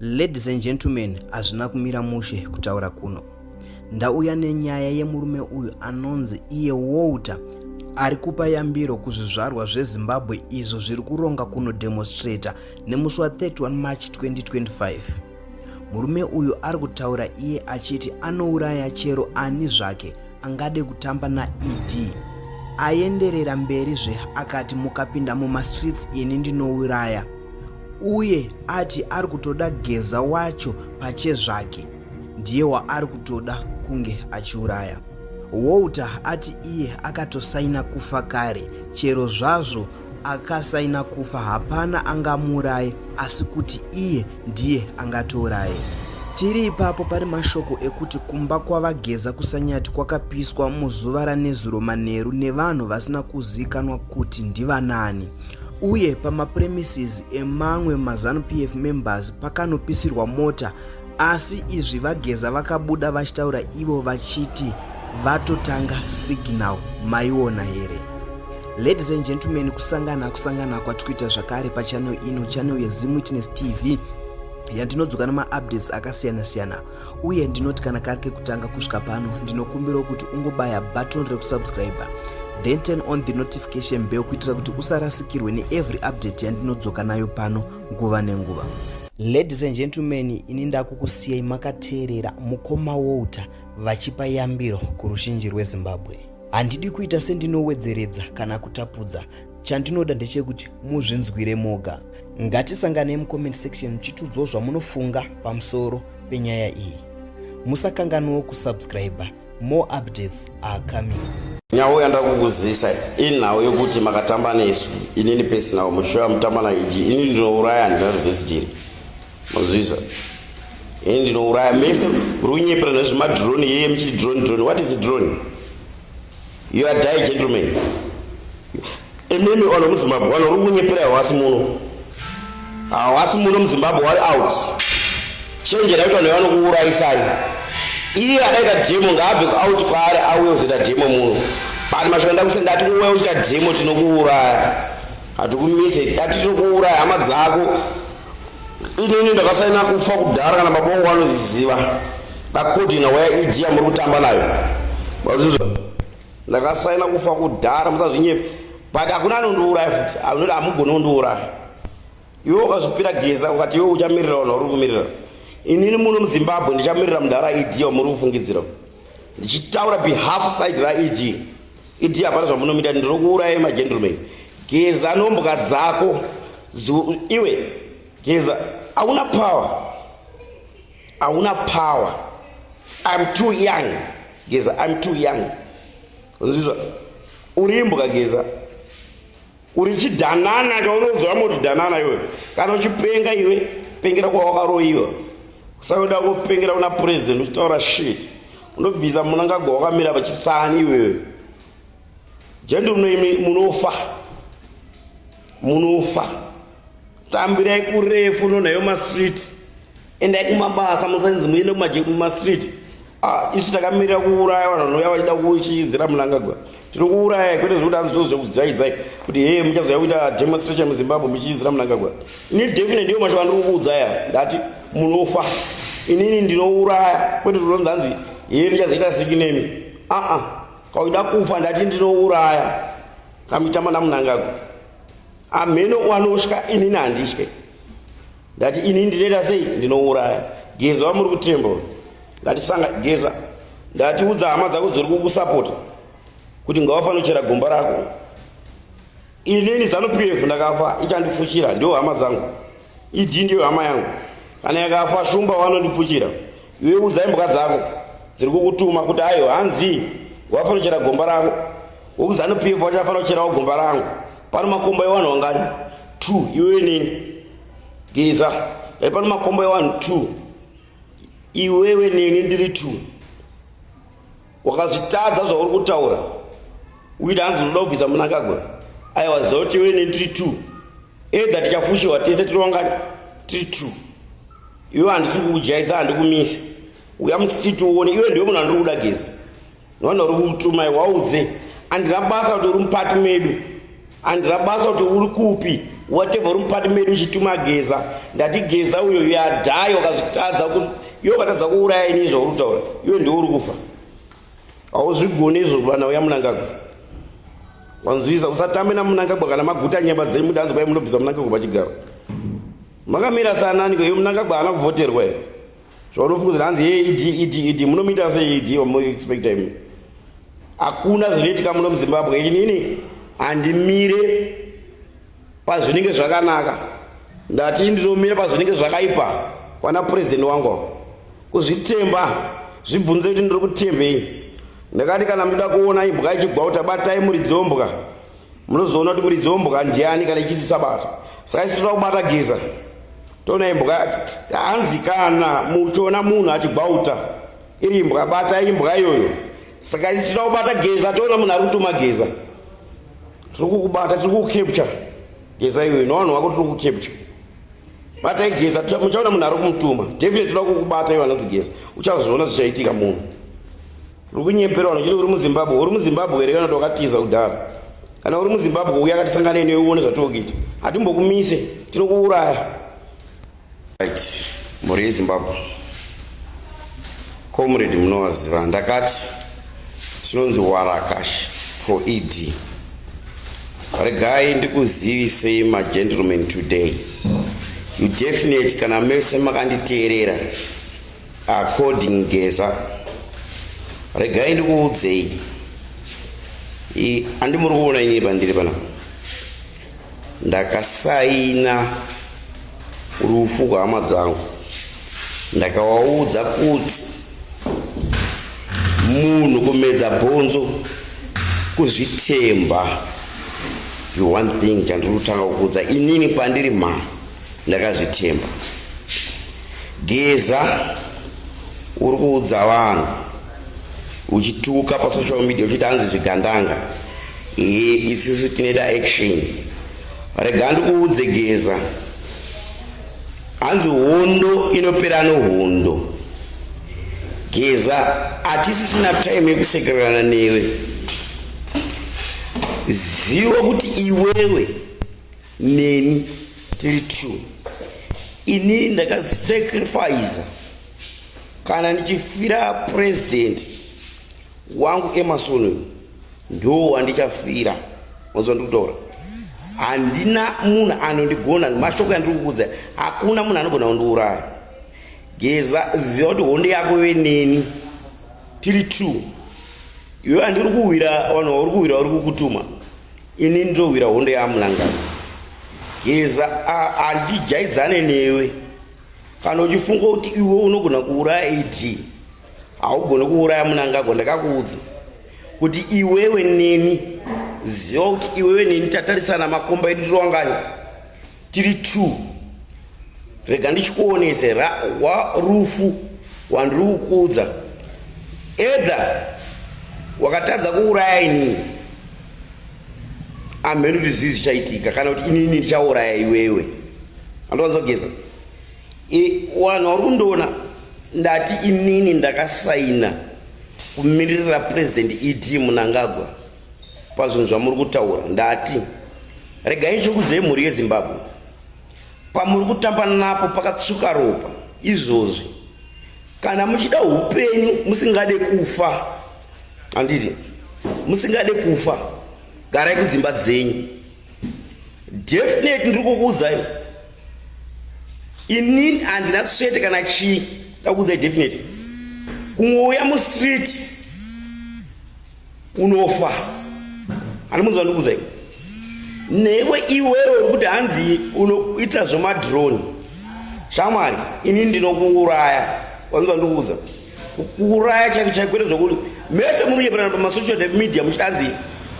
Ladies and gentlemen, hazvina kumira mushe kutaura kuno. Ndauya nenyaya yemurume uyu anonzi iye Walter ari kupa yambiro kuzvizvarwa zvezimbabwe izvo zviri kuronga kunodemonstrata nemusi wa 31 march 2025 murume uyu ari kutaura iye achiti anouraya chero ani zvake angade kutamba naed aenderera mberi zve akati mukapinda mumastreets ini ndinouraya uye ati ari kutoda geza wacho pachezvake ndiye waari kutoda kunge achiuraya walter ati iye akatosaina kufa kare chero zvazvo akasaina kufa hapana angamuuraye asi kuti iye ndiye angatouraye tiri ipapo pari mashoko ekuti kumba kwavageza kusanyati kwakapiswa muzuva ranezuro manheru nevanhu vasina kuzikanwa kuti ndivanani uye pamapremises emamwe mazanu pf members pakanopisirwa mota asi izvi vageza vakabuda vachitaura ivo vachiti vatotanga signal maiona here ladies and gentlemen kusangana kusangana kwati kuita zvakare pachanel ino chanel yezimwitness tv yandinodzoka nemaupdates akasiyana-siyana uye ndinoti kana kari kekutanga kusvika pano ndinokumbirawo kuti ungobaya button rekusubscriber then turn on the notification bell kuitira kuti usarasikirwe neevery update yandinodzoka nayo pano nguva nenguva ladies and gentlemen ini ndakukusiyai makateerera mukoma walter vachipa yambiro kurushinji rwezimbabwe handidi kuita sendinowedzeredza kana kutapudza Chandinoda ndechekuti muzvinzwire moga. Ngatisanganei mucomment section muchitiudzawo zvamunofunga pamusoro penyaya iyi. Musakanganwewo kusubscriber. More updates are coming. Nhau yandakukuzisa inhau yokuti makatamba nesu inini pesinawo mushoya mutamba naidi inini ndinouraya handina zvivesitiri mozvisa ini ndinouraya mese runyepera nezvemadrone yeye muchiti drone drone what is drone You are die gentleman. Imimi ono muZimbabwe wano uri kunyepera hawasi muno. Hawasi muno muZimbabwe wari out. Change right on yano kuuraisai. Iye akaita demo ngaabve out kwaari auye uzoita demo muno. Bani mashoko ndakuse ndati uwe ucha demo tinokuuraya. Hatukumise, ndati tinokuuraya hama dzako. inini ndakasaina kufa kudhara kana mabongo anoziziva bakodina waya ed yamuri kutamba nayo mazizwa ndakasaina kufa kudhara musazvinyepa but hakuna anondiuraya futi anoti hamugoni kundiuraya iwe ukazvipira geza ukati iwe uchamirira vanhu vari kumirira inini muno muzimbabwe ndichamirira mudhara ed yamuri kufungidzira ndichitaura behalf side raed idi hapana zvamunomita ndiri kuuraya magentleman geza nombwa dzako iwe geza hauna power hauna power im too young geza im too young nzizwa urimbwa geza uri chidanana kaunoudzwa kama uri danana iwe kana uchipenga iwe pengera kwawakaroyiwa usayoda kupengera una president uchitaura shit unobvisa munangagwa wakamira vachisani iwewe jendi unoimi munofa munofa tambirai kurefu nonhayo mastreet endai kumabasa musainzi muende kumastreet Ah, isu takamirira kuuraya vanhu vanouya vachida kuchiidzira munangagwa tiri kuuraya kwete zvekuti hanzi tozouya kuzijaidzai kuti hee muchazouya kuita demonstration muzimbabwe muchiidzira munangagwa ini definite ndiyo mashoko andiri kukuudzaya ndati munofa inini ndinouraya kwete zvotonzi hanzi hee muchazoita siki nemi aa kauida kufa ndati ndinouraya kamitama namunangagwa amheno wanosvika inini handitye ndati ini ndinoita sei ndinouraya geza wamuri kutemba ngatisanga geza ndati udza hama dzako dziri kukusapota kuti ngawafanochera gomba rako inini zanu p f ndakafa ichandifuchira ndiyo hama dzangu idi ndiyo hama yangu kana yakafa shumba wanondipfuchira iwe udzai mbwa dzako dziri kukutuma kuti ayo hanzi wafanochera gomba rako wokuzanu p f wachafanira kucherawo gomba rangu pano makomba ewanhu wangani two iwe nini geza dai pano makombo ewanhu two iwewe neni ndiri two wakazvitadza zvauri kutaura uida hanzi unoda kubvisa munangagwe aiwa ziva kuti iwewe neni ndiri two edha tichafushiwa tese tiri wangani tiri two iwe handisi kukujaisa handikumisi uya musiti uone iwe ndiwe munhu andiri kuda geza Vana uri kutumai waudze andina basa kuti uri mupati medu andina basa kuti uri kupi whatever uri mupati medu uchituma geza ndati geza uyo yadai wakazvitadza iwe ukatadza kuuraya ini zvauri kutaura iwe ndiwe uri kufa hauzvigoni izvo vana uya munangagwa wanzwisa usatambe namunangagwa kana maguta nyemba dziri mudanzi kwai munobvisa munangagwa pachigaro makamira sananiko iyo munangagwa haana kuvhoterwa here zvaunofungidzira hanzi ye ed ed ed munomuita se ed wamuexpecta imi hakuna zvinoitika muno muzimbabwe inini handimire pazvinenge zvakanaka ndati ndinomira pazvinenge zvakaipa kwana purezidenti wangu kuzvitemba zvibvunze kuti ndiri kutembei ndakati kana muchida kuona imbwa ichigwauta batai muridzi wombwa munozoona kuti muridzi wombwa ndiani kana ichisi sabata saka isitoda kubata geza Tona imbwa hanzi kana muchiona munhu achigwauta iri imbwa bata imbwa iyoyo saka isi tinoda kubata geza toona munhu ari kutuma geza tiri kukubata tiri kukucapture geza iyoyo nowanhu wako tiri kukucapture bata igeza muchaona munhu ari kumutuma definitely tinoda kukubata ivo anonzi geza uchazoona zvichaitika munhu Uri kunyepera unochiti uri muZimbabwe. Uri muZimbabwe here kana kuti wakatiza kudhara? Kana uri muZimbabwe uya akatisangane newe uone zvatinokuita. Hatimbokumise, tinokuuraya. Right. Mhuri yeZimbabwe. Comrade munovaziva ndakati tinonzi warakash for ED. Regai ndikuzivisei magentlemen today. You definitely kana mese makanditeerera According Geza, regai ndikuudzei, handi muri kuona inini pandiri panapa, ndakasaina rufu kwehama dzangu, ndakawaudza kuti munhu kumedza bhonzo kuzvitemba one thing chandiri kutanga kukuudza inini pandiri mhama Ndakazvitemba. Geza uri kuudza vanhu uchituka pasocial media uchiti hanzi zvigandanga ee isisu tinoita action rega ndikuudze geza hanzi hondo inopera nohondo geza hatisisina time yekusekererana newe ziva kuti iwewe neni tiri true ini ndakasacrifice kana ndichifira president wangu emarson uyu ndo wandichafira onzwa ndikutora handina munhu anondigona mashoko yandiri kukuudza hakuna munhu anogona kundiuraya geza ziva kuti hondo yako ive neni tiri true iwe andiri kuhwira vanhu vauri kuhwira vari kukutuma ini ndinohwira hondo yaamulangano geza handijaidzane newe kana uchifunga kuti iwe unogona kuuraya ed haugoni kuuraya munangagwa ndakakuudza kuti iwewe neni ziva kuti iwewe neni tatarisana makomba edu tironganya tiri two rega ndichikuonese rufu wandiri kukuudza edha wakatadza kuuraya inini amheni kuti zvii zvichaitika kana kuti inini ndichauraya iwewe andowanza kugeza e, wanhu wari kundoona ndati inini ndakasaina kumiririra purezidendi ed munangagwa pazvinhu zvamuri kutaura ndati regai ndikuudzei mhuri yezimbabwe pamuri kutamba napo pakatsvuka ropa izvozvi kana muchida upenyu musingade kufa handiti musingade kufa garai kudzimba dzenyu definite ndiri kukuudzai inini handina tsvete kana chii ndakuudzai definite kungouya mustreet unofa ani munzwa ndikuza iwe newe iwewe uri kuti hanzi unoita zvemadrone shamwari ini ndinokuuraya wanzwa ndikuuza kuuraya chake chaikwete zvokuti mese munoyeperana pamasocial media muchitanzi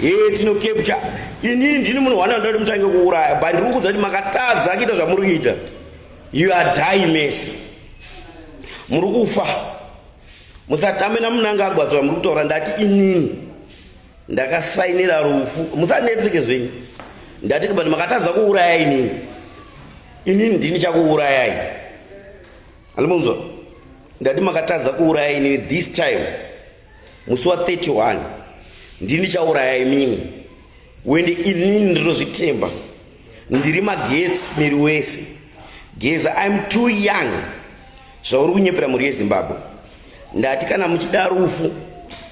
he tino capture inini ndini munhu wana ndati mutange kuuraya but ndiri kukuudza kuti makatadza kuita zvamuri kuita you are die mese muri kufa musatame namunangagwa zvamuri kutaura ndati inini ndakasainira rufu musanetseke zvenyu ndati but makatadza kuuraya inini inini ndini chakuurayai andimunzwa ndati makatadza kuuraya inini this time musi wa 31 ndini chauraya imimi wende inini ndinozvitemba ndiri magetsi miri wese geza im too young zvauri kunyepera mhuri yezimbabwe ndati kana muchida rufu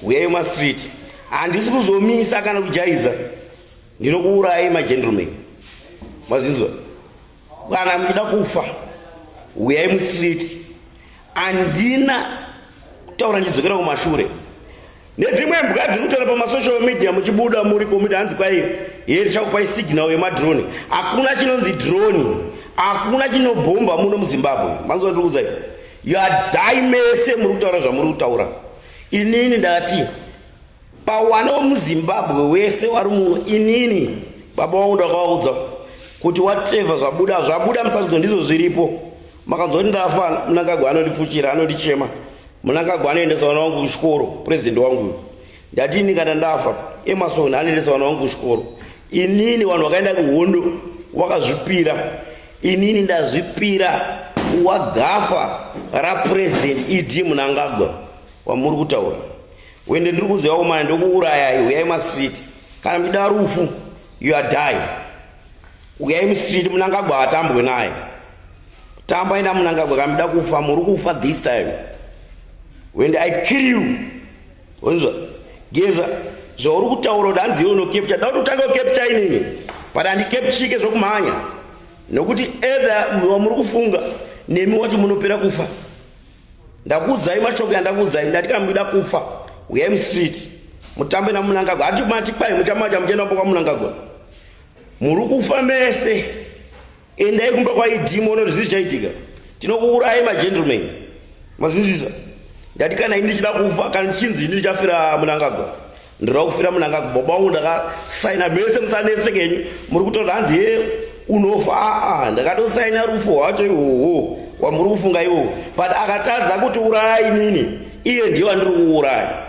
huyayo mastreet handisi kuzomisa kana kujaidza ndinokuurayi magentleman mazinzwa kana muchida kufa huyayi mustreet handina kutaura ndichidzokera kumashure nedzimwe mbwa dziri kutora pamasocial media muchibuda muri komiti hanzi kwai here chakupai signal yemadrone hakuna chinonzi drone hakuna chinobhomba muno muzimbabwe manzwa ndikuudzai you are die mese muri kutaura zvamuri kutaura inini ndati pawana wemuzimbabwe wese wari muno inini baba wangu ndakavaudza kuti wateva zvabuda zvabuda musatidzo ndizvo zviripo makanzwa kuti ndafa munangagwa anondifuchira anondichema munangagwa anoendesa vana wangu kuchikoro purezidhendi wanguyo ndati ini kana ndafa emasoni anoendesa vana wangu kuchikoro inini vanhu vakaenda kuhondo wakazvipira inini ndazvipira wagafa rapurezidhendi ed munangagwa wamuri kutaura wende ndiri kuziva umana ndokuurayai uyai mastreet kana muchida rufu you are die Uyai mustreet munangagwa atambwe naye. Tamba ina munangagwa kamida kufa muri kufa this time. When I kill you. Wonzwa? Geza zvauri kutaura kuti hanzi iwe unokepcha dauti utange ukepcha inini but handikepchike zvokumhanya nokuti ether wamuri kufunga nemi wacho munopera kufa ndakuudzai mashoko yandakuudzai ndati kana muida kufa uyai mustreet mutambe namunangagwa hati mati kwai muchamacha muchienda mbo kwamunangagwa muri kufa mese endai kumba kwaid moona kuti zvii chaitika tinokuurayi magentleman mazwisisa ndati kana ini ndichida kufa kana ndichinzi ini ndichafira munangagwa ndinoda kufira munangagwa baba wangu ndakasaina mese musanetseke henyu muri kutoda hanzi he unofa aa ndakatosaina rufu hwacho ihoho wamuri kufunga iwowo but akatadza kuti uraya inini iye ndiye wandiri kuuraya